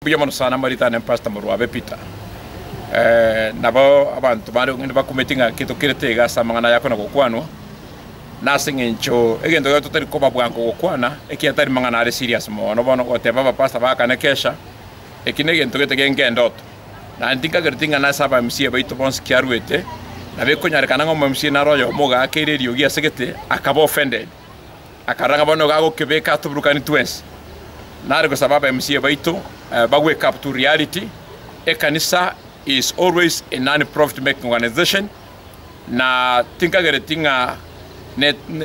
Mbuya mono sana moritane Pastor Morwabe Peter. Nabo abanto baane gokende bakumeti ng'a ki tokerete iga ase amang'ana aya akona gokwanwa, nase engencho egento keria totari koba bwango gokwana ekiagera tari mang'ana are serious mono. Bono goteba abapastor baakane kesha, eki negento gete gengendoto. Naende tinkagereti ng'a nase aba MCA baito bonsi kiaruete, nabo ekonyarekana ng'a omo MCA naro oyomo ogaakeire eriogi ase gete akaba offended. Akarora ng'a bono nigo agokebeka atuburukanie twensi, nare gosaba aba MCA baito ba wake up to reality, ekanisa is always a non profit making organization na tinkagereti ng'a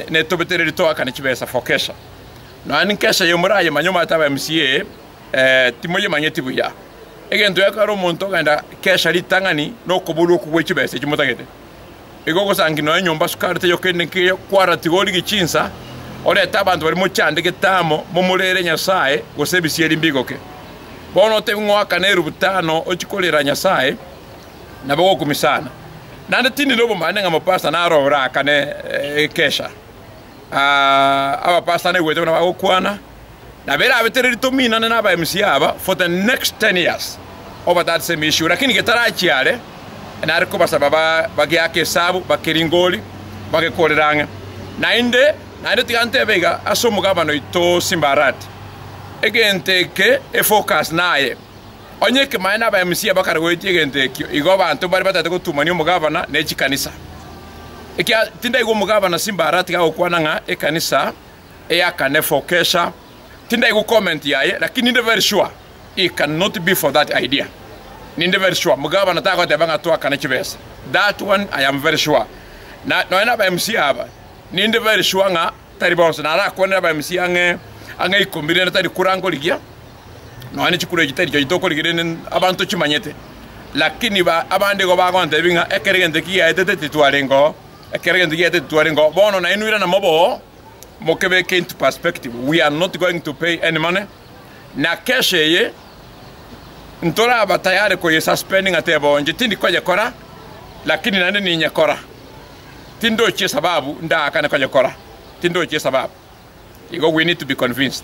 netobete reri toakane chibesa for kesha. Nonya ninki kesha eye morayemanye omanyete aba MCA timoyemanyeti buya. Egento gekogera omonto ogenda kesha ritang'ani nokoborwa okwo gwe chibesa echio motagete. iga ogosangi nonya enyomba sukari taiyo kende nkeiyo, kwara tigori gichinsa, orete abanto baria mochande getambo, momorere Nyasae, gose ebisieri mbigoke. Bono otebi ng'oaka na erubu tano ochie korera Nyasae, nabo gokumi sana. Naende tindi nobombaane ng'a mopasta naro oraakane ekesha. Aa, abapasta naigwete buna bagokwana. Nabo erabete ere rituko moinane na aba MC aba for the next ten years obatatise emeisiko lakini getarachia are nare kobasaba bageake esabu bakeringori bagekorere ang'e naende naende tiga ntebe iga ase omogabane oito Simba Arati egento eke efocus naye onye ekemaene na aba MC bakare goetia egento ekio igo abanto mbare batagete gotumania omogabana ne chikanisa ekia tindaigwa omogabana Simba Arati gagokwana ng'a ekanisa Ea kane for kesha tindai go comment yaye lakini ninde very sure it can not be for that idea ninde very sure mugabana tagoteba ng'a twakane chibesa that one I am very sure na nonya na aba MC aba ninde very sure ng'a tari bonsi na arakwanere aba MC ang'e ang'e ikomi rende tari kura nkorigia nonya ne chikura echi tari chonye tokorigia rende abanto chimanyete lakini ba abande igo bagontebi ng'a ekero egento ekigiaetete titwarengeo. Ekero egento giaeteti twarengeo bono nainwe irana mobe oo, mokebeke into perspective, we are not going to pay any money, na case eye ntoraba tayari koye suspend ng'atebe onye tindi koyekora lakini naende ninyekora, tindochi esababu ndaakane koyekora, tindochi esababu. Igo we need to be convinced.